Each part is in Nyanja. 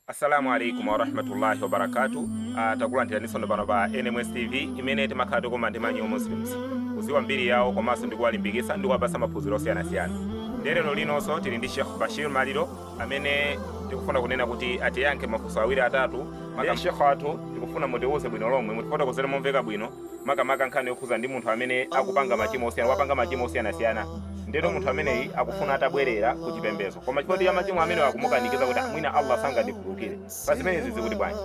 Assalamu alaikum warahmatullahi wabarakatu ah, takulandiraninso pano pa NMS TV imene timakhala tikumana ndi ma new muslims kuziwa mbiri yawo komanso ndikuwalimbikisa ndikuwapasa maphunziro osiyanasiyana nde lero linonso tili ndi Sheikh Bashir Maliro amene tikufuna kunena kuti atiyankhe mafunso awiri atatu maka Sheikh athu tikufuna mutiwuze bwino lomwe mutifotokozere momveka bwino makamaka nkhani yokhuza ndi munthu amene akupanga machimo osiyana wapanga machimo osiyanasiyana ndeno munthu ameneyi akufuna atabwerera ku chipembezo koma chifukwa ya machimo ameneyo akumukanikiza kuti "Ah, mwina allah sangandikhululukire pa zimenezi chikuti bwanji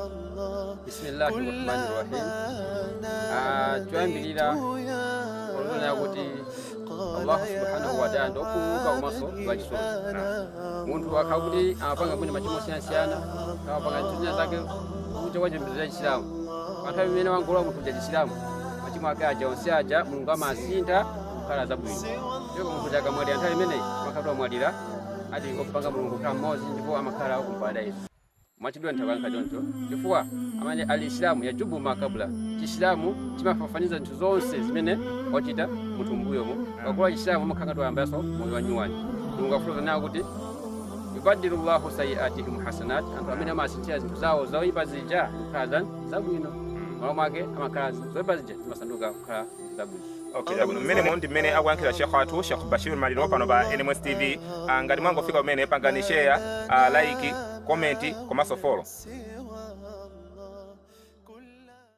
bisimillahi rahmani rahim Ah, choyambirira tiona kuti Allah subhanahu wa ta'ala ndi okhululuka komanso wa chisoni munthu akakhala kuti amapanga mwina machimo osiyanasiyana amapanga ntchito zake kunja kwa chipembedzo cha chisilamu panthawi imene wangolowa munthu cha chisilamu machimo ake aja onse aja mulungu amasintha kukhala zabwino ndipo munthu kuti akamwalira nthawi imeneyi amakhala kuti wamwalira ali kumupanga mulungu kukhala mmodzi ndipo amakhala ku paradaizo mwachidule ndayankha choncho chifukwa amene al isilamu yajubu ma kabula chisilamu chimafafaniza zinthu zonse zimene wachita munthu mbuyomo akalowa chisilamu amakhala kuti wayambaso moyo wanyuwani mulungu akufotokoza nawo kuti yubadilullahu sayiatihim hasanat anthu amene amawasinthira zinthu zawo zoyipa zija kukhala zan zabwino malo mwake amakhala zoyipa zija zimasanduka kukhala Okay, chabwino mmenemu ndi mmene akuyankhira Sheikh wathu Sheikh Bashir Maliro pano pa NMS TV Ah, ngati mwangofika kumene pangani share ah, like comment komanso follow